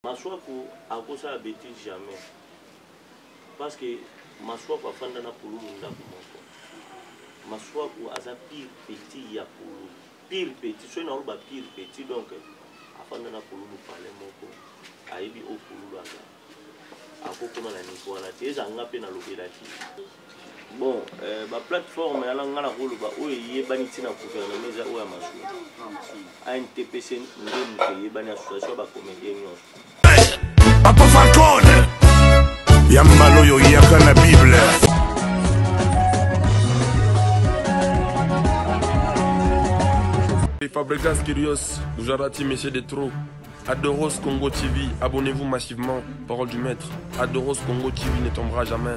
Masuaku akosala betise jamais parce que Masuaku afanda na pulumu ndako moko. Masuaku aza pire petit ya pulumu, pire petit soki naoloba pire petit donc afanda na pulumu pale moko ayebi oyo pulumu aza akokoma na niveau wana te eza nga mpe nalobelaki bon euh, ba plateforme yana nga na koloba oyo eyebani ntina gouvernement eza oyo ya masolo antpc nde moto eyebani association ba comédien nyonso papa falcon ya mbala oyo oyaka na bible Fabregas Kirios, Jarati, Messieurs des Trous, Adoros Congo TV, abonnez-vous massivement, parole du maître. Adoros Congo TV ne tombera jamais.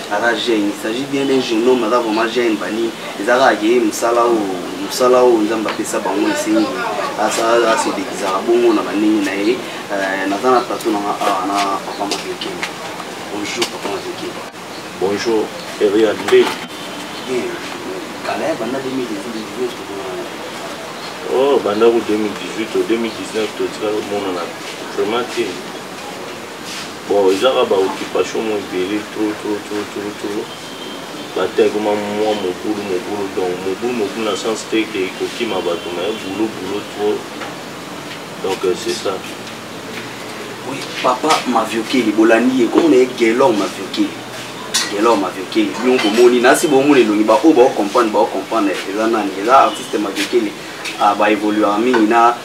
aza jeune il s'agit bien d'un jeune homme aza vraiment jeune bani eza kaka ke mosala oyo mosala oyo nzambe apesa bango esengi asedekisaka bongo na bandenge na ye euh, naza na plateau nanga awa ah, na papa maveke bonjour papa maveke bonjour erian nde kala ya banda 2019 oh bandako 2018 o 2019 totika komonana vraiment te bon ezaka ba occupation mo ebele trop trop trop trop trop bata ekoma mwa mobulu mobulu donc mobulu mobulu na sens te ke ekokima bato mais boulot boulot trop donc euh, c'est ça oui papa maviokeli bolandi ye komona ye gelor maviokeli gelor maviokeli bino komoni nasi bomona elongi baoyo baocomprendre baocomprendre eza nani eza artiste maviokeli ah, baevoluaka mingi na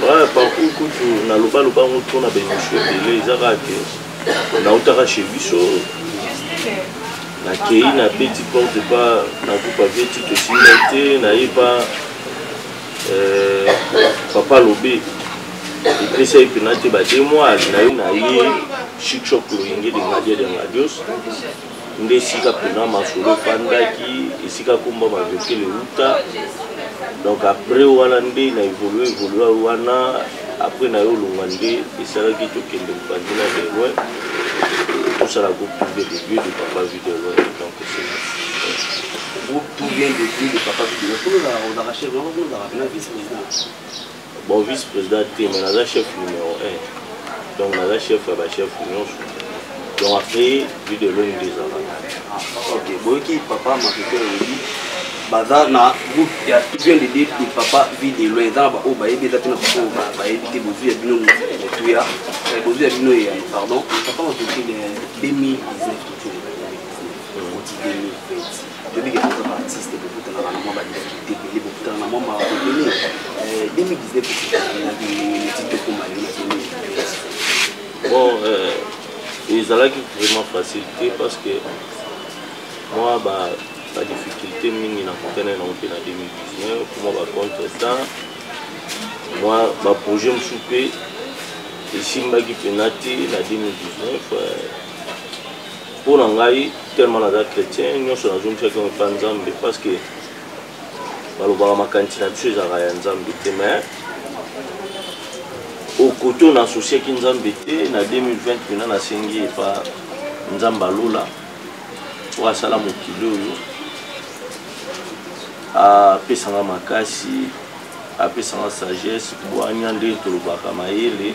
Ouais, parcours kutu naloba loba yango trop na baémission ebele eza kaka te nautaka chez biso nakei na beti porte pa nakupa veti tosimba te naye pa euh, papa lobe epesa ye mpena te bademwale nayo naye chikshok loyenge de ngadia de ngadios nde esika mpena masolo efandaki esika komba bavekele euta donc après wana nde na évolue évolue wana après na yo olonga nde esalaki tokende mopanzi na de loin tosala groupe tout bien de dieu de papa vie de loin donc groupe tout bien de dieu de papa vie de loin tolona ozaka chef ozaka vice président bon vice président te mais naza chef numéro 1 donc naza chef ya bachef nyonso donc après vie de lone nde ezalaka ok boyoki papa makepe olobi baza na groupe ya bien de date de papa vie de lone eza na baoyo bayebi eza te na baoyo bayebi te bozwi ya bino motuya eh, bozwi ya bino eyano pardon papa makepe 2019 kotiemi toyebi ke toza baartiste bokutanaka na mwa badifikulte ebele bokutana na mwa mawa ebele 2019 esingakineti tokoma lelo na 2019 bon euh, ezalaki vraiment facile te parce que mwa badifikulte mingi nakutana nango mpe na 2019 mwa bacontrestant mwa baprojet mosusu mpe esimbaki mpena te na 2019 mpo na ngai tellement naza chrétien nyonso nazongisaki yango epa nzambe parce que balobaka makanisi na biso ezalaka ya nzambe te mais okote oyo naasosiaki nzambe te na 2020 mpena nasengi epa nzambe alola oyo asala mokili oyo apesanga makasi apesanga sagesse bwanya nde tolobaka mayele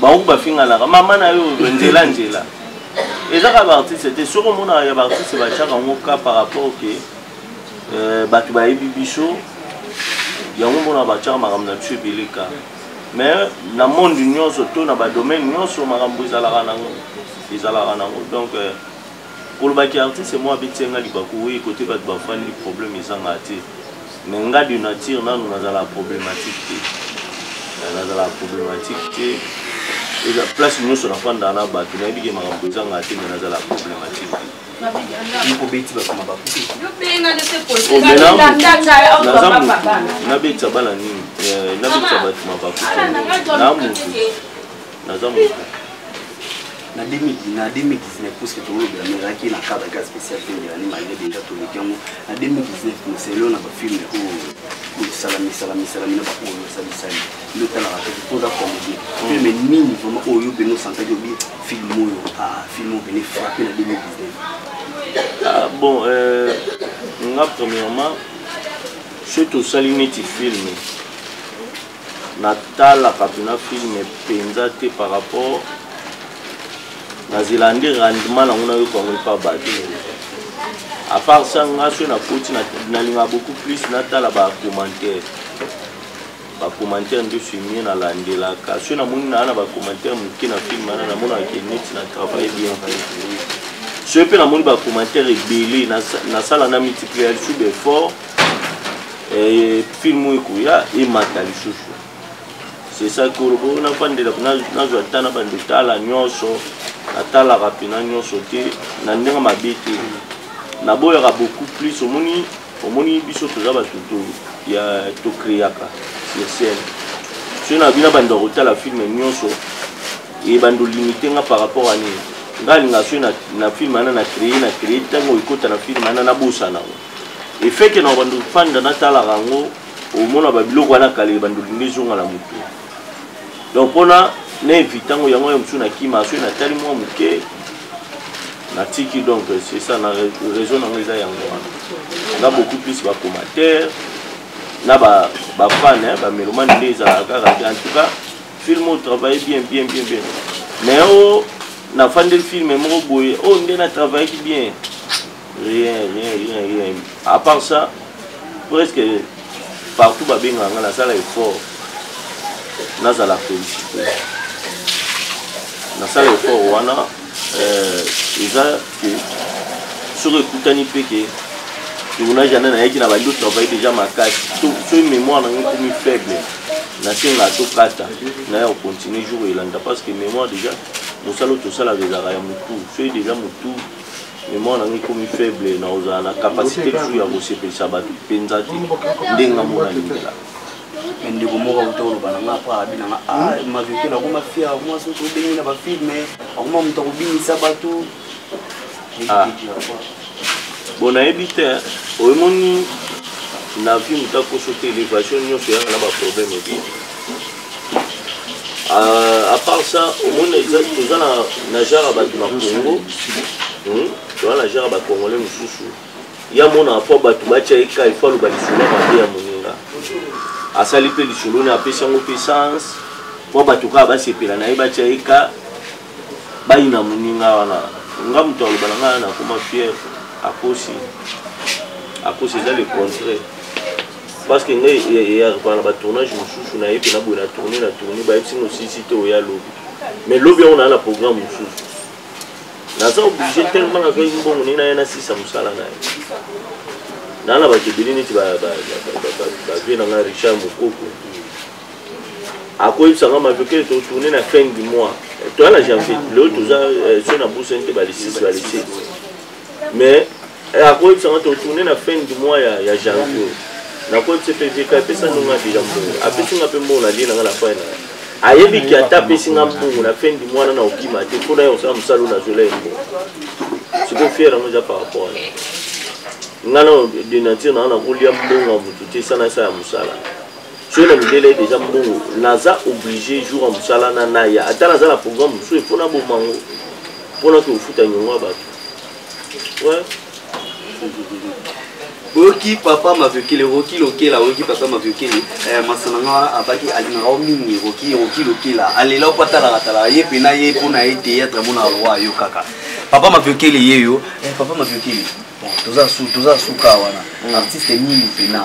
bango bafinganaka mama na yo nzela nzela ezaka baartiste te soki omonaka ya baartiste batiaka yango ka par rapport ke euh, bato bayebi biso yango mona batiaka makambo na biso ebele ka mais na monde nyonso to na badomaine nyonso makambo ezalaka nango ezalaka nango donc euh, kolobaki artiste moko abetisi nga libaku oyo kote bato bafandi problème ezanga te Mais nga de nature nanu nazala problematique te. Eh, nazala problematique te. Eza place nyonso nafanda na bato nayebi ke makambo ezanga te mais nazala problematique te. nabetisa bana nini eh, nabetisa bato mabaku na motu naza moto na 2019 puisque tolobela mais ezalaki na cadre ka spécial te ndelani malgré déjà toleki yango na 2019 moselo na bafilme oyo misalami salami salami na baoyo osalisali nde otalaka te mpoza comédie filme nini vraiment oyo yo mpene osantaki obi filme oyo filme oyo mpene frappe na 2019 ah, bon euh, nga premièrement soki tosali neti filme natalaka mpena filme mpenza te par rapport nazela nde rendement nango nayoka yango epa bato à part ça nga soki nakoti nalingaka beaucoup plus natala bacommentaire bacommentaire nde filmie nalandelaka soki namoni naa na bacommentaire moke na filme wana namonaka ke neti na travaille bien soki mpe namoni bacommentaire ebele nasala na multiplier lisusu d'effort Eh, film oyo ekoya emata lisusu c'est ça que olobo nafandela nazwa ata na bande tala nyonso natalaka mpena nyonso te na ndenge mabe te naboyaka beaucoup plus omoni omoni biso toza bato ya tokreaka sur scène soki na bina banda kotala filme nyonso ebanda olimite nga par rapport a nini nga alinga soki na filme ana na cree na cree ntango ekota na filme ana nabosana efeke na bando fanda natalaka yango omona babiloko wana kaleli bando lingi ezonga na motu donc mpona na evite yango yango ya mosusu nakima soki natali mwa moke natiki donc c'est ça na raison nango eza yango wana na beaucoup plus bacommentaire na bafane bamelomane nde ezalaka kaka te en tout cas film oyo travaille bien bien bien bien mais oyo nafandeli filme moko boye oyo nde na travaillaki bien rien rien rien rien à part ça presque partout babengaka nga nasala effort nazala félicité nasala effort wana euh, eza ke soki ekutani mpe ke tournage wana nayaki na bandi otravaille déjà makasi soki mémoire nango ekomi faible nasenga tokata naye ocontinue jour elanda parce que mémoire déjà mosala oyo tosalaka ezalaka ya motu soki déjà motu memoire na ngai ekomi faible na kozala na capacité lisusu ya kosepelisa bato mpenza te ndenge nga mona lingela me ndeko moko akuta koloba na ngai apres abi na ngai a ah, maveke nakoma fia akoma soki obengi na bafilme akoma moto akobinisa bato ah. bon nayebi te oyemoni na vie motakoso te elevation nyonso eyaka na baproblème ebele Euh, à part ça omoni toza na nageur ya bato na congo hmm? toza nageur ya bacongolais mosusu ya monaka mpo bato batya ye ka ifo aloba lisolo ya mabe ya moninga asali mpe lisolo ne apesi yango mpe sens mpo bato kaka basepela na ye batya ye ka bayi na muninga wana nga moto aloba na ngai nakoma fiere akosi akosi eza le contraire parce que ngai eyarepana na batournage mosusu na ye mpe na boye na tourne na tourne bayebisi mosilisi te oya lobi mais lobi yango naa na programme mosusu naza oblige tellement nazwaki mbongo ndenge naye nasisa mosala na ye naa na bato ebele neti bavie na ngai richard mokoko akoyebisa nga matoke totourne na fin du mois toya na janvier lelo toza eh, so na busani te balisisi balisisi mais eh, akoyebisa nga totourne na fin du mois ya, ya janvier nakoyebisa mpe vk apesa ndonga deja mbongo apesi nga mpe mbongo nalie nanga na fai na ayebi ki ata apesi nga mbongo na fin du mois na na okima te mpo na ye osala mosala oyo nazola ye mbongo siko fiere yango eza par rapport na ngai na denature nanga nakolia mbongo ya motu te sana esa ya mosala soki na mindele ye deja mbongo naza oblige jour ya mosala na naya ata naza na programme mosusu mpo na bomango mpo na kofuta nyongo ya bato oyoki papa maviokele roki lokela oyoki papa maviokele eh, masana nga abaki alingaka o mingi roki roki lokela alela mpo atalaka talaka ye mpe na ye mpo na ye teyatre mona roi yo kaka papa maviokele ye yo eh, papa maviokele toza su toza suka wana mm. artiste nini pena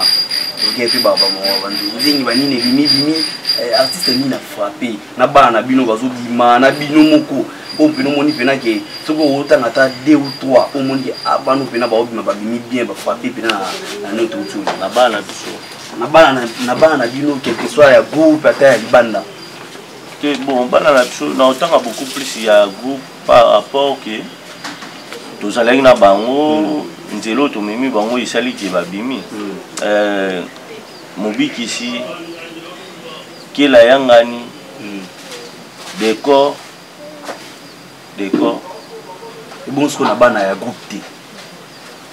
oke mpe banzingi banini ebimi bimi eh, artiste nini na frappe na bana na bino bazobima na bino moko oyo mpena omoni mpena ke soki otanga ata deux ou trois omoni ke ah, bana mpena baobima babimi bien bafrappe mpena na note outu na bana biso na bana na bino quelque soit ya groupe ata ya libanda te bon bana na biso na otanga beaucoup plus ya groupe par rapport que tozalaki na bango mm. nzela oyo tomemi bango esali ke babimi mm. euh, mobikisi kela yangani mm. decor decor ebongo soko na bana ya groupe te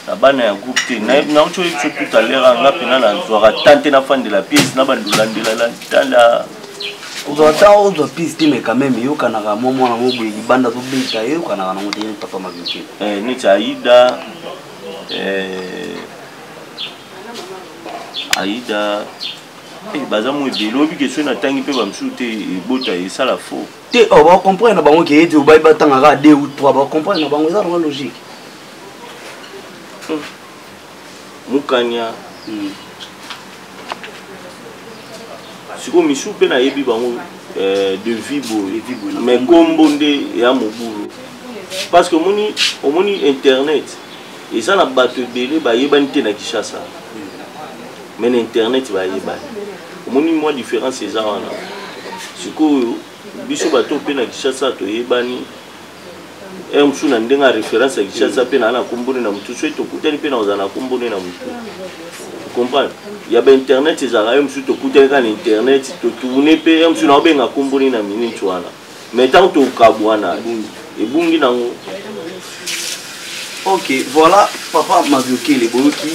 na bana ya groupe te nauti oyebi biso tout à l'heure anga mpena nazwaka tan te nafandela piese na bandolandelalantala ozwa tan ozwa piese te mais quand même eyokanaka mwa mwana mo boye libanda azobeta eyokanaka nango te papa mabike eh, neti aida eh, aida eh, baza mo ebele oyebi kesoi natangi mpe bamosusu te ebota esala faux te oh, ba comprendre na bango ke ete obai batanga kaka deux ou trois ba comprendre na bango eza nango logique hmm. mukanya hmm. sikoyo misusu mpe nayebi bango eh, de vie boye mais kombo nde ya mobulu parce que omoni omoni internet eza na bato ebele bayebani te na kishasa me na internet bayebani omoni mwa différence eza wana sikoyo biso bato mpe na kishasa toyebani heure mosusu na ndenge ya référence ya kishasa mpe naa na kombone na motu soki tokutani mpe nakozala na kombone na motu comprendre ya bainternet ezalaka ye mosusu tokutani kaka na internet totourne mpe ye mosusu naobenga kombone na minute wana mais ntango tokabuana ebungi nango ok voilà papa maviokele boyoki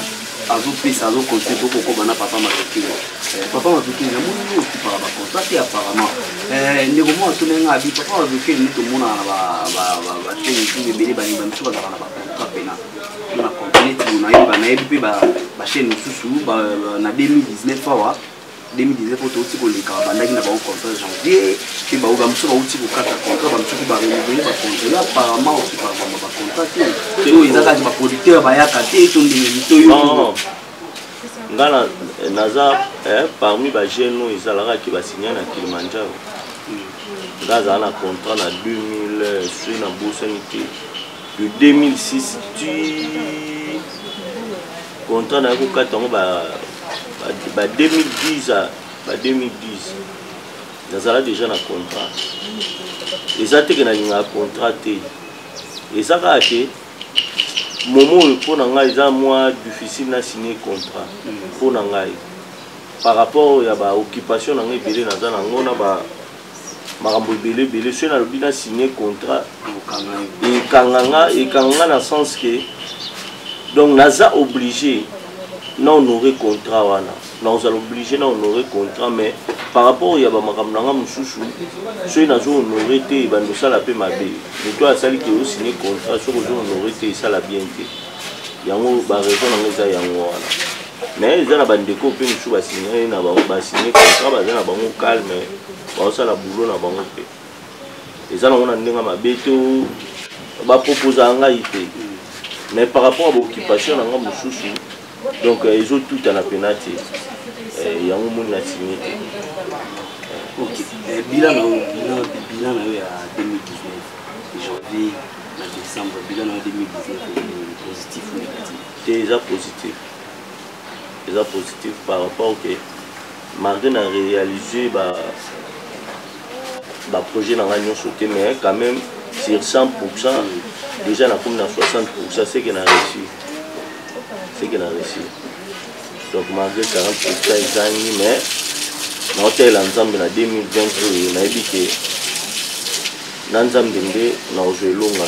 azopesa azokonse tokokoba na papa maviokele eh, papa maviokele namoni yo okipaka bacontra te apparemment eh, ndeko moko atuna nga abi papa maviokele nde tomonaka na batene tu ebele balingi bamisu bazalaka na bacontra pena na complet nayebi mpe bachaine mosusu na 2019 awa 2019 oyo touti koleka babandaki na bango contrat janvier mpe bango bamosusu bauti kokata contrat bamosuki barenouveler bacontrela apparemment okiparbamba bacontra te te oyo eza kati baproducteur bayaka te to ndenge mito yo nga naza eh, parmi bajeune oyo ezalaka ke basigne na kilimanjaro nga azala na contrat na 2000 soi na bosani te de 2006 ti Contrat na ko kata ngo ba ba 2010 à ba 2010. Nazala déjà na contrat. Eza te que na linga contrat te. Eza ka te momo oyo mpo na ngai eza mwa difficile na signe contrat mpo na ngai par rapport ya baoccupation na ngai ebele naza na yango na ba makambo ebele ebele soki nalobi na signe contrat ekanganga ekanganga na sens ke donc naza obligé na honore contrat wana nakozala obligé na honore contrat mais par rapport ya bamakambo na nga mosusu soki nazo honore te ebanda osala mpe mabe moto oyo asali ke osigne contrat soki ozo honore te esala bien te yango baraison na nga eza yango wana mais eza na bandeko mpe mosusu basignale na bango basigne contrat baza na bango calme baosala boulot na bango mpe eza nango na ndenge mabe to baproposaka ngai te mais par rapport ya baoccupation na ngai mosusu donc euh, ezotutana mpena te euh, yango moni na signe te eh, bilan na yo ya 2019 janvier na décembre bilan na yo 2019 positif ou négatif te eza positif eza positif par rapport que malgré na réaliser ba ba projet na nga nyonso te mais quand même sur 100 déjà nakomi na 60 ce que na réussi ce que na réussi donc malgré 40 ezangi mais naotalela nzambe na 2020 oyo nayebi ke na nzambe nde nakozwa elonga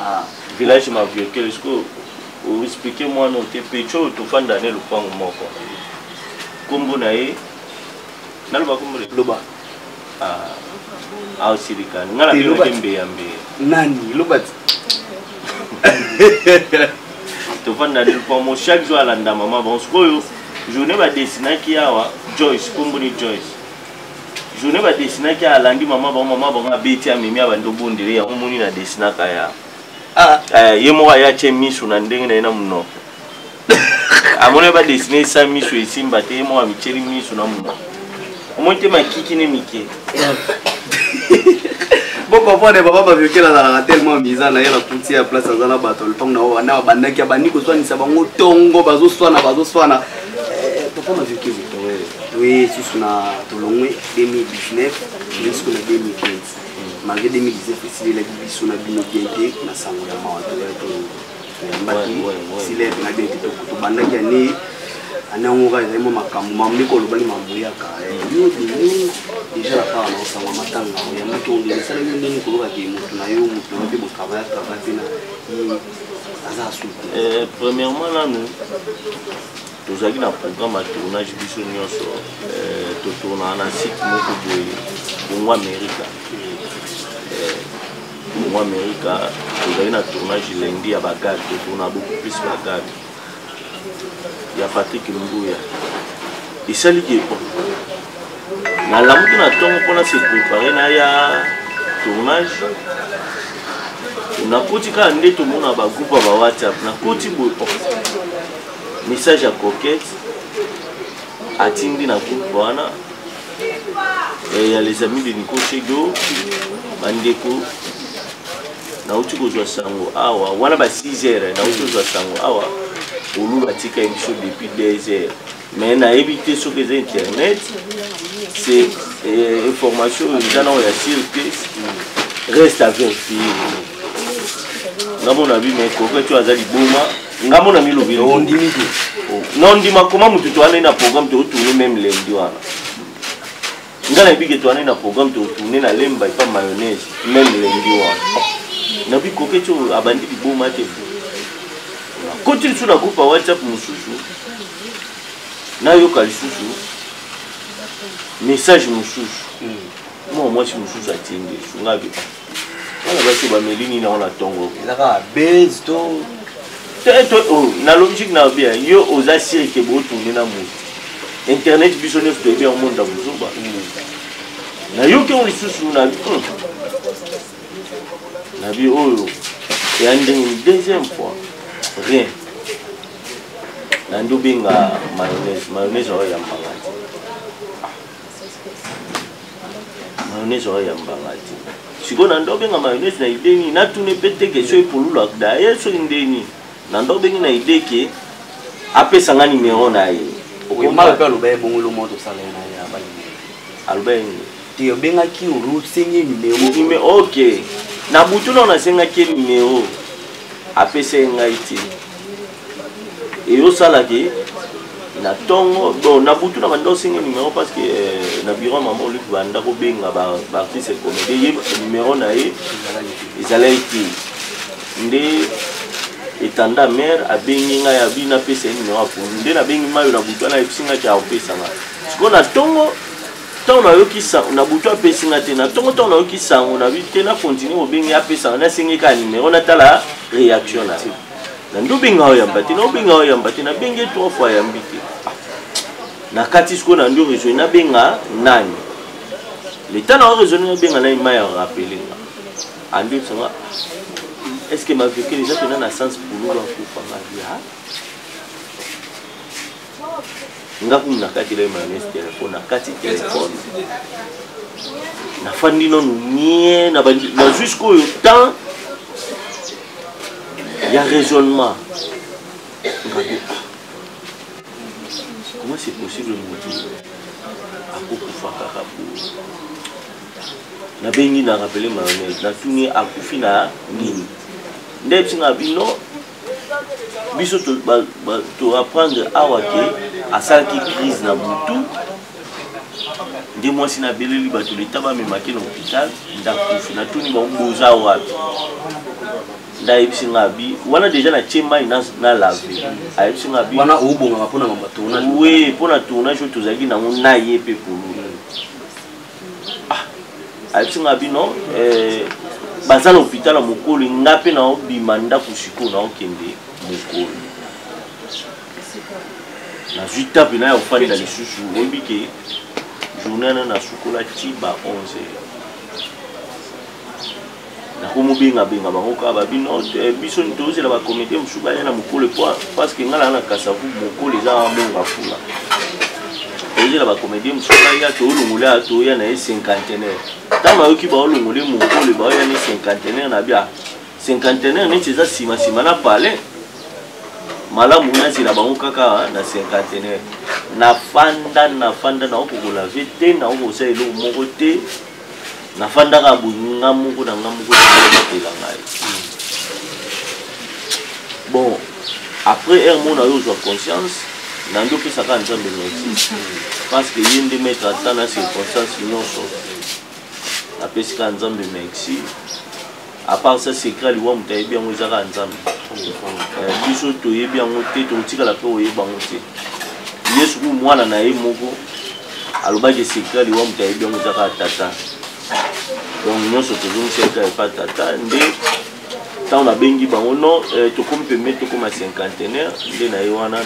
Ah, village maviokele sikoyo oexplike mwana te pecho oyo tofanda ne lopango moko nkombo na ye naloba nkombo loba aosilikani ah, ah, nga nabinoke mbeya mbeya nani loba ti tofanda ne lopango chaque jour alanda mama bango sikoyo journée badesinaki awa joyce nkombo ni joyce journée badesinaki alandi mama bango mama bango abeti amemi abandi obondele yango moni na desinaka ya ah. eh, ye moko aye atye miso na ndenge na ye na monoko amoni badesine esa miso esimba te ye moko amityeli miso na monoko omoni te makiki ne mike bokomprendre papa baviokela azalaka tellement miza na ye na kuti ya place aza na bato lopango na oyo wana babandaki abandi koswanisa bango ntongo bazoswana bazoswana eh, papa maviokeli toye susu na tolongwe 2019 jusqu'o na 2020 malgré 2019 esilelaki biso na bino bien te na sango ya mawa toya toyambaki sileve na bien te tobandaki ane ane yango kaka ezali mwa makambo mamleki olobaki mamoyaka eh, yo deni déjà na kaka na osango ya matanga ya moto ondele esalaki ndenge kolokaki moto na yo moto na yo mpe botravaya travaya mpe na aza asuki eh, premièrement nanu tozalaki na programme ya tournage biso nyonso euh, totournaka na site moko boye bongo amerika euh, bongo amerika tozalaki na tournage lendi ya bagade totourna beaucoup plus bagade ya patrik mbuya esali ke bon nalamuki na ntongo mpona se prépare naya tournage nakoti kaka nde tomona bagroupe ya bawhatsapp nakoti boye message ya coquette atindi na groupe wana eh, ya les amis de nico chedo bandeko nauti kozwa sango awa wana ba 6 heures nauti kozwa sango awa olu batika émission depuis 2 heures mais nayebi te soki eza internet c'est eh, information oyo eza nao ya sir te reste à vérifier ngamona bi mais coquette oyo aza liboma nga mona milobi ondimi te na ondima koma motu toanai na programme totourne meme lemdi wana nga nayebi ke toanai na programme totourne na lemba epa mayonnaise meme lemdi wana nabi koketi oyo abandi liboma te koti lisusu na groupe ya whatsapp mosusu nayoka lisusu message mosusu hmm. mwa mwasi mosusu atindi esungabi bana basi bameli nini yango na ntongo eza kaka base to oh, na logique na bien yo oza sire ke botourne na moto internet biso nyonso toyebi yango monda mozoba nayoki yango lisusu na hmm. na bi oyo eya ndenge deuxième fois rien nandi obenga mayonnaise mayonnaise oyo ya mbanga mayonnaise oyo ya mbanga te sikoyo na ndenge obenga mayonnaise na idee nini natuni mpe te kestion epolula daye soki nde nini na ndenge obengi na idee ke apesa nga nimero na ye okomala mpe aloba ye bongolo moko tosala ye na ye abali aloba ye nini te obengaki osengi nimero ok na butu nao nasengaki ye nimero apesa ye ngai te eyo sala ke na tongo bon na butu na banda osenga numéro parce que euh, na bureau mama oluki banda kobenga baartiste comédie ye numéro na ye ezalaki te nde etanda mare abengi ngai abi napesa ye numéro aponi nde nabengi mayo na butu wana ayebisi ngai ke akopesa ngai sikoyo na tongo ntango nayoki sango na butu apesi ngai te na ntongo ntango nayoki sango na bi te na continue kobengi apesa ngai nasengi kaka nimero natala réaction na ye na nde obenga oyamba te na obenga oyamba te nabengi ye trois fois ayambi te ah. na kati sikoyo na nde oresone nabenga nani leta na oresone nabenga nani mai ya rappele nga andi ah, oyebisanga ah. est ce que mavekele eza mpena na sens pululu akufa mavia nga kumu nakati elai malamesi telefone nakati telefone nafandi nanu nie na jusqu'oyo temps ya raisonnement ngabi comment c'est possible motu akokufa kaka po nabengi na rappele mayonnaise natuni akufi na nini nde bisinga bino biso toapprendre awa ke asalaki crise na butu nde mwasi na beleli bato leta bamemaki na hôpital ndakufi natuni bango boza wapi ndayebisi nga bi wana deja natye mai na lave ayebisi nga bi wana obongaka mpona mambo ya tournage we mpona tournage oyo tozalaki nango na ye mpe polo ah ayebisi nga bino eh, baza na hôpital ya mokolo nga mpe naobima ndako sikoyo naokende mokolo nazwi tape na ya kofanda lisusu oyebi ke journée wana nasukola ti ba 11 heures nakomobengabenga bango kaka babi no te biso ni tozela bakomite mosusu baya na mokole po parceke ngai naa na kasavu mokole eza amonga fula tozela bakomedie mosusu baya toolongola ya toya na ye cinquantenaire ntango ayoki baolongole mokole baoya ne cinquantenaire na bia cinquantenaire neti eza nsima nsima na palais malamu nazela bango kaka na cinquantenaire nafanda nafanda naokokolave te naokosala eloko moko te nafandaka boye nga moko na nga moko nabatela ngai bon après heure mona yo ozwa conscience nandi opesaka nzambe merci parce que ye nde maître ata na circonstance nyonso napesika nzambe merci à part ça secret ya liwa moto ayebi yango eza kaka nzambe eh, biso toyebi yango te tokotikala mpe koyeba yango te yesu kuku mwana na ye moko alobaki secret ya liwa moto ayebi yango eza kaka tata donc nyonso tozongisa eka epa tata nde ntango nabengi bango non eh, tokomi pembe tokoma cinquantenaire nde na ye wana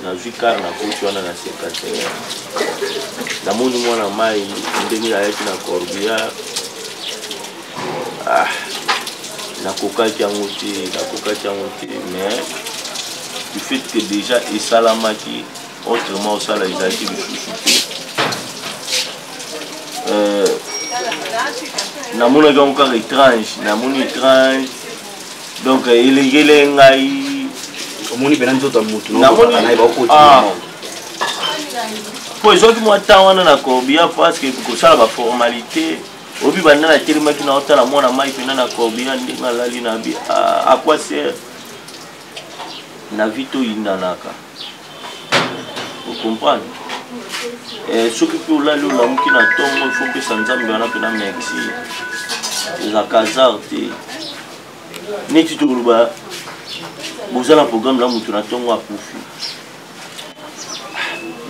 nazwi kar na koti wana na cinquantenaire namoni mwana mai ndenge ayaki na corbillard ah, nakokaki yango te nakokaki yango te mais du fait que déjà esalamaki autrement osala ezalaki lisusu te euh, namonaki yango kaka étrange namoni étrange donc elekele ngai omoni pena nzoto ya motu po ezwaki mwa temps wana na corbia parce que kosala baformalité obi banda natelemaki na otala mwana mai mpena na corbina ndenge alali na bi aquaser na vi toyindanaka ocomprendre eh, soki mpe olali olamuki na ntongo ifo mpesa nzambe wana mpena merci ezalaka hasard te neti tokoloba boza na programme na moto na ntongo akufi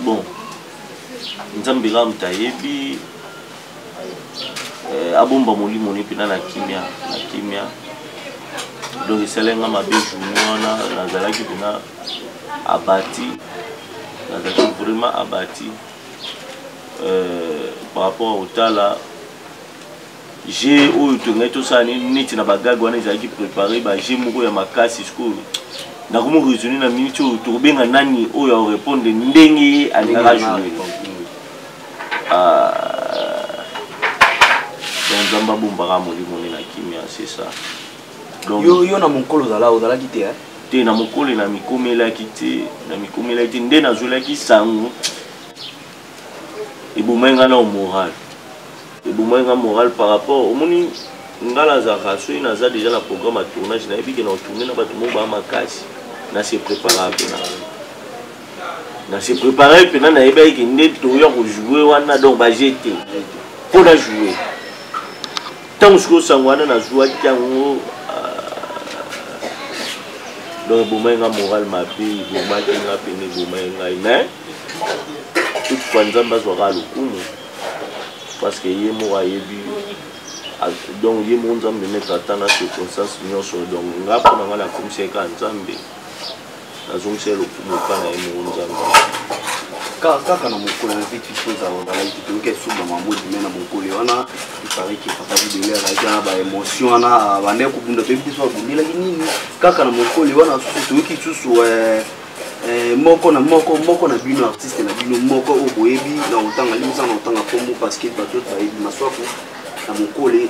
bon nzambe kaka moto ayebi eh, abomba molimo ne mpena na kimia na kimia donc esali nga mabe journi wana nazalaki mpena abati nazalaki vraiment abati euh, par rapport otala jeu oyo tongaki tosala neti na bagage wana ezalaki prépare bajeu moko ya makasi sikoyo nakomi raisonne na minute oyo tokobenga nani oyo aorépondre ndenge ye alingaka joue Ah, donc nzambe abombaka molimo ne na kimia c'est ça donc yo, yo na monkolo ozala ozalaki te eh? te na mokolo na mikomelaki te na mikomelaki te nde nazwelaki sango ebomai ngai nao moral ebomai ngai moral par rapport omoni ngai nazalaka soki naza déjà na programme ya tournage nayebi ke na otourne na bato moko baa makasi na se préparaka mpe na na se préparer mpena nayebaki ke nde toya kojoue wana donc baje te mpo na joue ntango soki osango wana nazuwaki yango euh, donc ebomaki nga moral mabe ebomaki nga mpena ebomaki ngai mais toute fois nzambe azwaka lokumu parce que ye moko ayebi donc ye moko nzambe maître ata na circonstance nyonso donc nga mpo na ngai nakomisaki kaka nzambe azongisela lokumu epai na ye moko nzambe kaka na mokolo na vite vite ozala ozalaki toyoki esuba mamodi me na mokolo wana ipariki papa bidele azalaki wana baémotion wana bandaki kobunda toyebi te so abundelaki nini kaka na mokolo wana susu toyoki lisusu eh, Eh, moko na moko moko na bino artiste na bino moko oyo boyebi na otanga limisa na otanga kombo parce que bato bayebi maswaku na mokole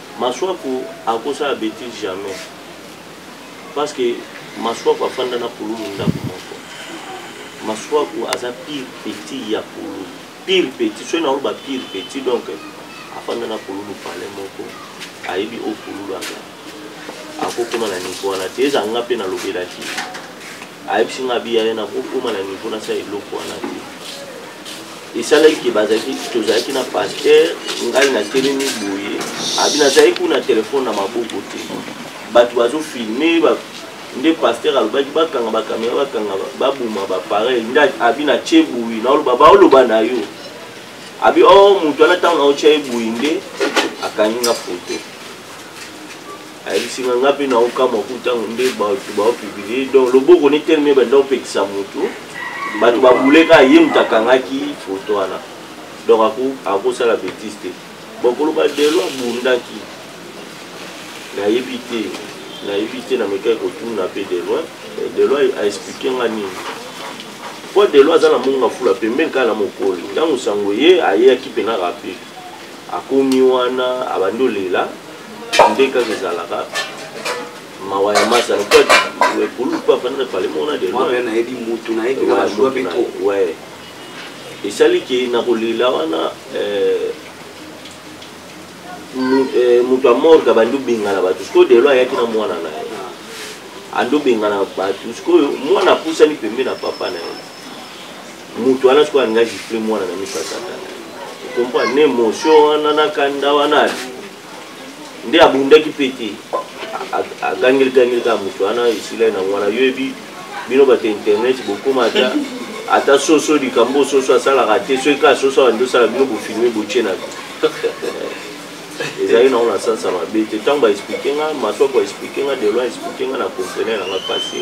Masuaku akosala betise jamais parce que Masuaku afanda na pululu ndako moko. Masuaku aza pire petit ya pululu, pire petit soki nao ba pire petit donc afanda na pululu pale moko ayebi o pululu aza akokoma na niveau wana te eza nga mpe nalobelaki ayebisi nga biya ye nakokoma na niveau nasala eloko wana te esalaki ke bazalaki tozalaki na pasteur ngai natelemi boye abi nazalaki kuna telefone na maboko te bato bazofilme ba, nde pasteur alobaki bakanga bakamera bakanga baboma bapareil nde abi na tie boye naoloba baoloba na yo abi o oh, moto wana ntango naotya ye boye nde akangi nga foto ayebisi nga nga mpe naokamwa ku ntango nde bato baopublie donc loboko ne teleme banda opekisa motu bato babuleka ye moto akangaki foto wana donc akosala betise te bokoloba delo abundaki nayebi te nayebi te namekaki kotuna mpe deloin eh, deloin aexplike nga nini mpo deloin aza na monga fula pembeni kaka na mokoli ntango sango ye ayeyaki mpe na rape akomi wana abandi olela nde kaka ezalaka mawa ya masa lokola pa afandaka pale mona de nayebi mutu nayebiwae esali ke na kolela wana eh, eh, moto ya morga bandi obengana bato sikoyo delo ayaki na mwana na ye ah. andi obengana bato sikoyo mwana apusani pembe na papa na ye moto wana sikoyo alinga gifle mwana na miso ya tata okompa na émotion wana na kanda wana nde abundaki mpe te agangeli gangeli kaka moto wana esila na wana yoyebi bino bato internet bokoma ata ata soso likambo soso asalaka te soki kaka soso awa nde osala bino bofilme botie na ezali nango na sansa mabe te ntango baexplike nga masoko explike nga deloi explike nga na comprene nanga pase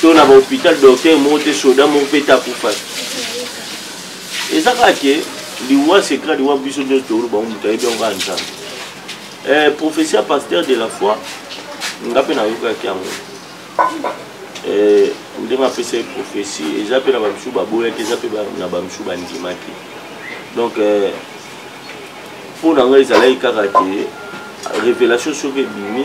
to na bahopital docteur moko te soda moko mpe te akufaki eza kaka ke liwa secret liwa biso nyonso toyolo bango moto ayebi yango kaka nzambe eh, professeur pasteur de la foi nga mpe nayokaki yango eh, ndenge apesaki prophetie eza mpe na bamisusu baboyaki eza mpe na bamisusu bandimaki donc eh, mpo na ngai ezalaki kaka te révélation soki ebimi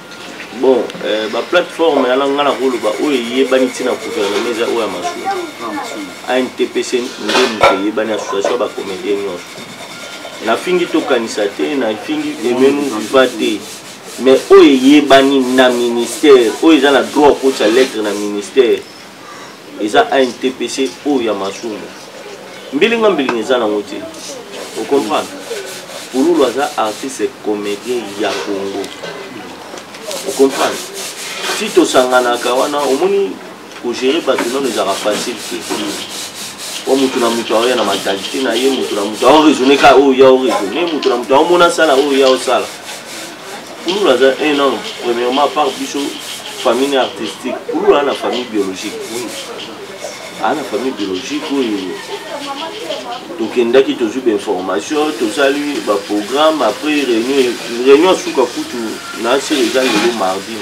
bon euh, baplateforme yana ngai nakoloba oyo eyebani ntina gouvernement eza oyo ya masolo antpc nde moto eyebani association ya bacomédien nyonso nafingi tokanisa te nafingi emenu viva te mais oyo eyebani na ministère oyo eza na droit akotisa lettre na ministère eza antpc oyo ya masumu mbilinga mbilinga eza nango te ocomprendre pululu aza artiste comédien ya congo ocomprendre si tosanganaka wana omoni kogere bato nano ezalaka facile te o moto na moto aoya na mentalite na ye moto na moto aoraisonne ka oyo ya oraisonne moto na moto aomona sala oyo ya osala kulula aza un homme premièrement par biso famille artistique kulula ana famille biologique ana famille biologique oyo tokendaki tozwi bainformation tosali baprogramme après réunion réunion suka kutu na asili eza lelo mardi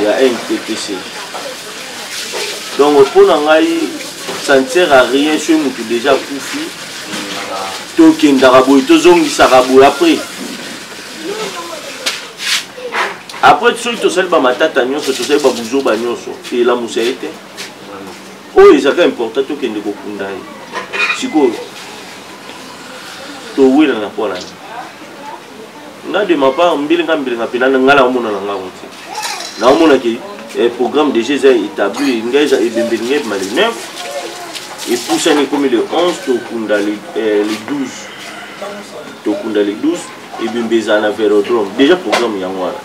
ya nttc donc mpo na ngai ça ne sert à rien soki motu déjà akufi tokendaka boye tozongisaka boye après après soki tosali bamatata nyonso tosali babuzoba nyonso elamusa ye te oyo ezalaka important tokende kokunda ye sikoyo towelana mpo na nini nga de ma part mbilinga mbilinga mpena ngai na omona na ngango te naomona ke eh, programme déjà eza établi ngai eza ebembeli ngai ebima le 9 epusani ekomi le 11 tokunda le 12 eh, tokunda le 12 ebembe ezala na vérodrome déjà programme yango wana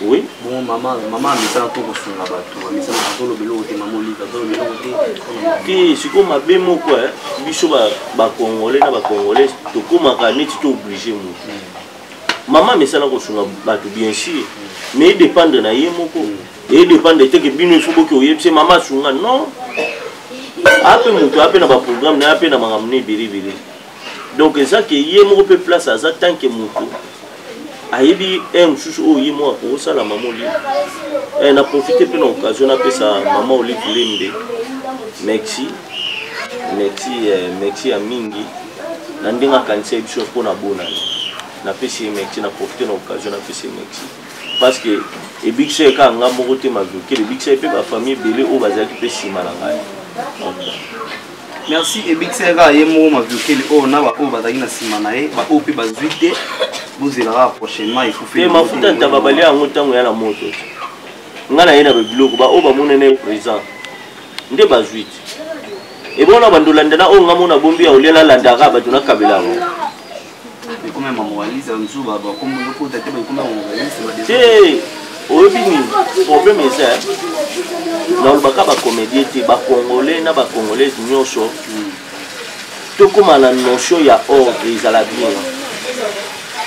oui bon mama mama amesana to kosunga bato amesana azoloba eloko te mama olika azoloba eloko te te sikoyo mabe moko biso bacongolais na bacongolais tokomaka neti to oblige motu hmm. mama amesana kosunga bato bien sûr mais edépendre na ye moko edépendre te ke bino ifo boki oyebisa ye mama asunga non ape moto ape na baprogramme na ye ape na makambo na ebele ebele donc eza ke ye moko mpe place aza tant ke moto ayebi heure mosusu oyo ye moko akosala mama olive eh, na profite mpe na occasion napesa mama olive lembe merci merci eh, merci ya mingi na ndenge akanisa ye biso mpo na bonani napesi ye merci na profite na occasion napesi ye merci parce que ebikisa ye kaka ngai moko te maviokele ebikisa ye mpe bafamille ebele oyo bazalaki mpe nsima na ngai merci ebikisa ye kaka ye moko maviokele oyo na baoyo bazalaki na nsima na ye baoyo mpe bazwi te bozela kaka prochainement ekufe mafuta ntaba balia yango ntango ya na moto ngai naye na babiloko baoyo bamonene présent nde bazwi te ebona bando landa na oyo nga mona bombi ya olia nalandaka bato nakabela yango te oyebi nini problème eza nalobaka bacomédie te bacongolais na bacongolaise nyonso tokóma na notion ya ordre ezala bien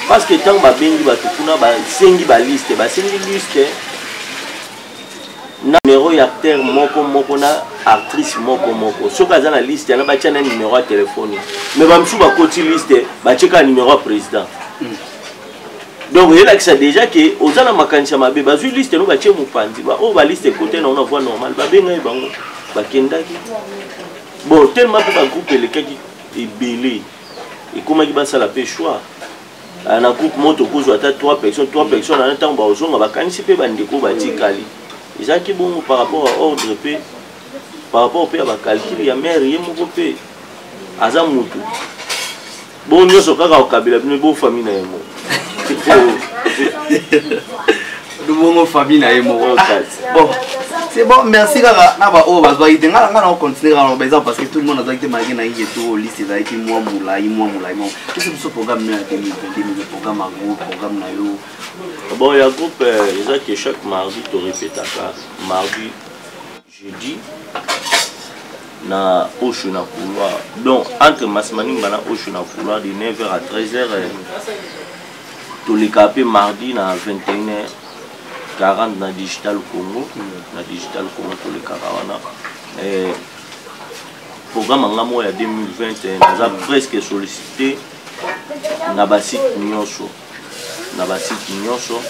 parce que ntango babengi bato kuna basengi baliste basengi liste na numero ya acteur moko moko na actrice moko moko soki aza na liste yana batya na numero ya telefone me bamosusu bakoti liste batye kaka numero ya président hmm. donc elakisa déjà ke oza na makanisi ya mabe bazwi liste no batye mopanzi baoyo baliste ekote nango na voie normale babengai bango bakendaki bon tellement mpe bagroupe elekaki ebele ekomaki basala mpe choix Ah, na groupe moko tokozwa ata 3 personnes 3 personnes ana ntango bakozonga bakanisi mpe bandeko batikali ezalaki bongo par rapport ya ordre mpe par rapport mpe ya bacalcule ya mare ye moko mpe aza motu bongo nyonso kaka kokabela bino bofami na yango lubongo famille na ye moko bon c'est bon merci kaka na baoyo bazwaki te ngai ngai nakocontinue kaka naloba eza parce que tout le monde azwaki te malgré nayiki eto liste ezalaki mwa molai mwa molai mwa esi biso programme no ya 2022 programme ya groupe programme na yo bon ya groupe eza ke chaque mardi torepetaka mardi jeudi na osho na couloir donc entre masimanimba na osho na couloir de 9 heures à 13 heures euh, toleka mpe mardi na 21 heures 40 na digital congo na digital congo tolekaka wana euh, programme anga moko ya 2020 naza presque sollicité na basite nyonso na basiti nyonso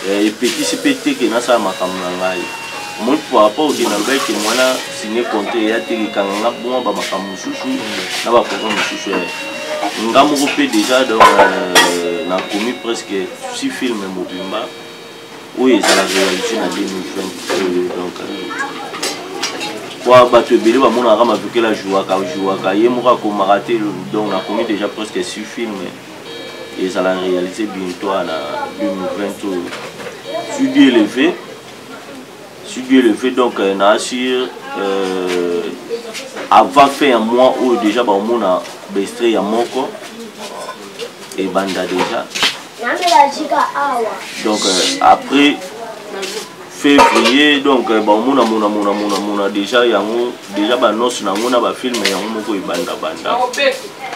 eh, epekisi mpe te ke nasala makambo na ngai omoni par rapport oke nalobaki ke mwana sine compte eya te likanga nga bongo ba makambo mosusu na baprogra mosusu ya nga moko mpe déjà donc euh, nakomi presque si filme mobimba oyo ezala réalité na 2020 oyo donc kwa bato ebele bamonaka mavukela jouaka jouaka ye moko akomaka te donc nakomi déjà presque sur film ezala réalité bientôt na 2020 oyo sudi élevé si Dieu le veut donc euh, na assure euh, avant fin ya mois oyo déjà baomona bestre ya moko ebanda déjà donc euh, après février donc euh, baomona mona mona mona mona déjà yango déjà banonse na yango na bafilme yango moko ebanda banda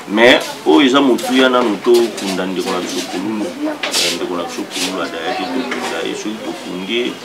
mais oyo eza motuya nanu tokunda ndeko na biso kululu euh, ndeko na biso kululu adayaki tokunda ye soki tokundi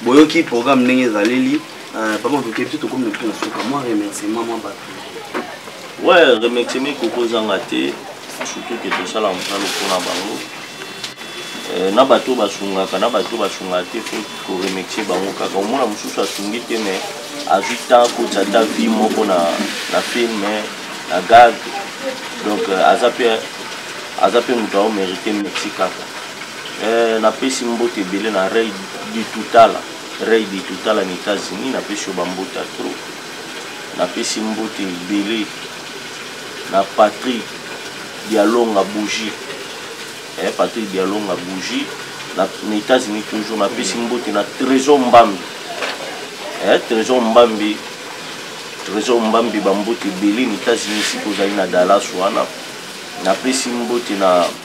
boyoki programme ndenge ezaleli euh, papa matoke biso tokomi na biso na suka mwa remerciement mwa bato ouais remerciement ekoki ozanga te surtout ke tosala mosala mpona bango euh, na bato basungaka na bato basungaka te fo koremercie bango kaka omona mosusu asungi te mais azwi temps koti ata vie moko na, na film na gag donc euh, aza mpe aza mpe moto aomérite merci kaka Eh, napesi mbote ebele na rey ditutala rey ditutala na états-unis napesi yo bambote ya tro napesi mbote ebele na patrik dialonga bougie eh, patrik dialonga bougie na, na états-unis toujours napesi mbote na trésor mbambi eh, trésor mbambi trésor mbambi bambote ebele na états-unis sika ozali na dallas wana napesi mbote na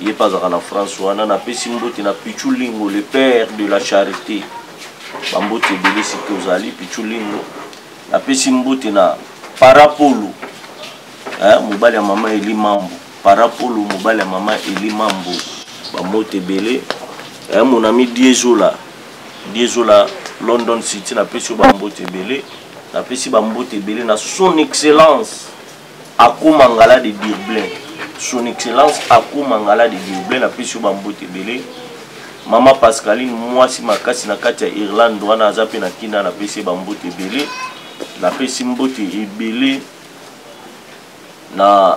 ye mpe azalaka na france wana napesi mbote na pichu lingo le père de la charité bambote ebele siki ozali pichu lingo napesi mbote na parapolo eh, mobali ya mama eli mambo parapolo mobali ya mama eli mambo bambote ebele eh, mon ami diezola diezola london city napesi yo bambote ebele napesi bambote ebele na son excellence Ako Mangala de Durblain, Son Excellence Ako Mangala de Durblain, napesi yo bambote ebele. Mama Pascaline, mwasi makasi na kati ya Irlande wana aza mpe na Kina, napesi ye bambote ebele. Napesi mbote ebele na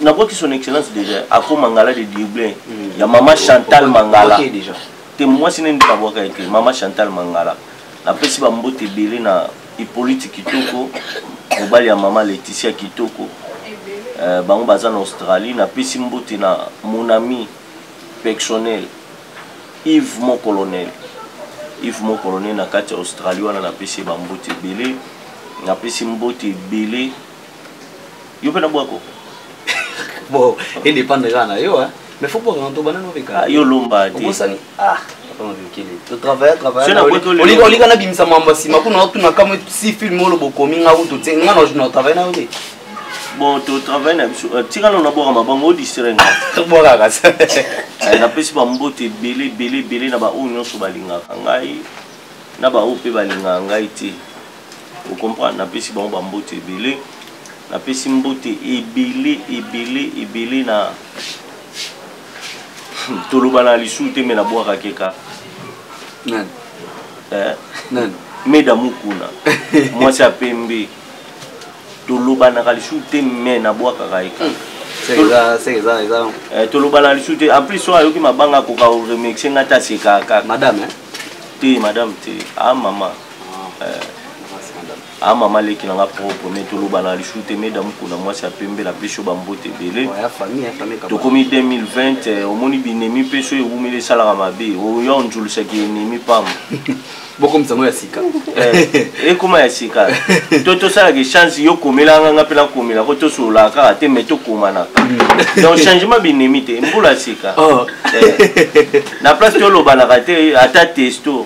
nabwaki son excellence déjà Ako Mangala de Durblain hmm. ya mama Chantal Mangala te mwasi nende nabwaka ye te mama Chantal Mangala napesi bambote ebele na hippolyte kitoko mobali ya mama leticia kitoko euh, bango baza na australie napesi mbote na mon ami personnel ive mon colonel ive mon colonel na kati ya australie wana napesi ye bambote ebele napesi mbote ebele yo mpe na bwako bon edependre kaka na yo mais faut bwaka na ntoba nano obeka yo lomba te obosani ah olika nabimisa mambo ya nsima kuna otuna kamwe si film olo bokomi nga kutu te nga na travaille nayo te bon totravaille na biso tika nano nabwaka mabango odistrai nga bwakaka napesi bamboto ebele ebele ebele na baoyo nyonso balingaka ngai na baoyo mpe balingaka ngai te okomprendre napesi bango bambote ebele napesi mbote ebele ebele ebele na hmm, toloba na lisusu te me nabwaka keka nani eh? nani meda mukuna mwasi ya pembe tolobanaka lisusu te me nabwakaka eka hmm. Eh, tolobana lisusu te en plus soki ayoki mabanga akoka koremercie ngai te asekaka kaka madame eh? te madame te a ah, mama a mama leki na nga propre me toloba na lisu te meda mokuna mwasi ya pembe na pesi yo bambote ebele tokomi 2020 eh, omoni binemi mpe so ewumeli esalaka mabe oya onzulisaki enemi pamba bokomisa yango ya sika eh, ekoma ya sika to tosalaka echange yo komelanga nga mpe nakomela ko tosololaka kaka te mai tokomanaka mm. donc changement binemi te mbula sika oh. eh, na place tolobanaka te ata testo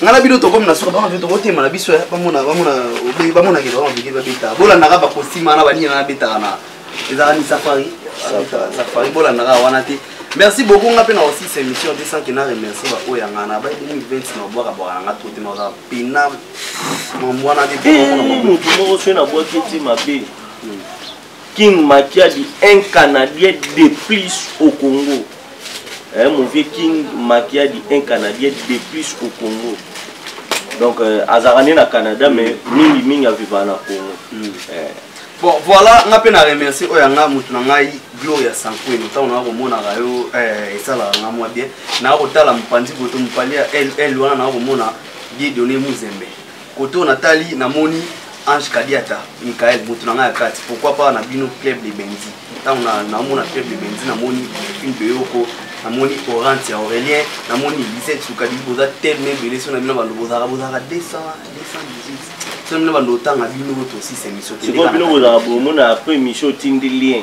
ngai na bino tokomi na suka bango mpe tokotema na biso eh, bamona bamona bamona kende bango bike babeta bolandaka bakosima na banini na betaka na ezalaka ni safari safari bolandaka wana te merci beaucoup nga mpe na aussi sa émission te sanke na remercie baoyo ya ngai na bai 2020 na obwaka bwaka na ngai to te na ozala pena mamwana te moto moko soki nabwaki ti mabe hmm. King Makiadi, un Canadien de plus au Congo. Hein, mon vieux King Makiadi, un Canadien de plus au Congo. Donc, euh, Azarane na Canada, mm. mais Mingi Mingi a vivre na Congo. Mm. Euh. Bon, voilà, nga pe na remercier oyo nga mutu na ngai Gloria Sankwini. Tant on a komona ka yo eh esala nga mwa bien. Na ko tala mpanzi boto mpali ya L L wana na ko mona Dieu donné Muzembe. kote oyo natali namoni ange kadiata michael moto na ngai ya kati pourquoi pas na bino club de benzi ntango namona club de benzi namoni une beyoko namoni orante ya aurélien namoni lise sukadi boza telme ebele so na bino bando bozalaka bozalaka 200 218 so na bino bando otanga bino tosisa émission sikoyo bino bozalaka bomona après émission otindi lien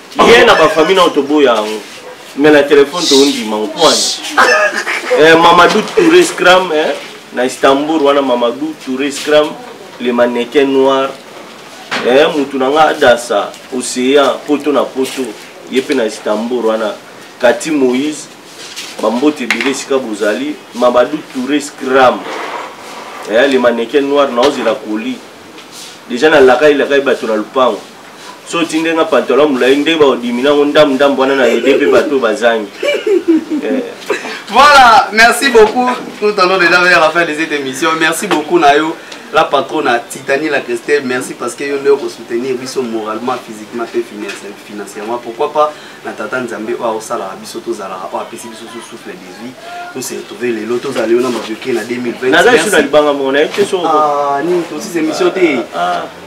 ye na bafamille nao toboya yango mais na telefone toondima ngo pwani eh, mamadou touré scram eh, na istanbul wana mamadou touré scram le mannequin noir eh, mutu na nga adasa océan poto na poto ye mpe na istanbul wana kati moïse bambote ebele esika bozali mamadou touré scram eh, le mannequin noir naozela koli deja nalakai lakai bato na lopango so otinde nga pantalon molai nde baodimi nango ndambu ndambu wana na ede mpe bato oyo bazangi eh. voilà merci beaucoup nous tendons déjà vers la fin de cette émission merci beaucoup na yo la patronne à Titanie la Christelle merci parce que yo nde okosoutenir biso moralement physiquement mpe financièrement pourquoi pas na tata nzambe oyo aosalaka biso tozalaka oyo apesi biso so souffle de vie tose retrouve lelo tozala yo na mabioke na 2020 naza biso na libanga moko nayebi te soko ah, nini tosisa émission te ah, ah.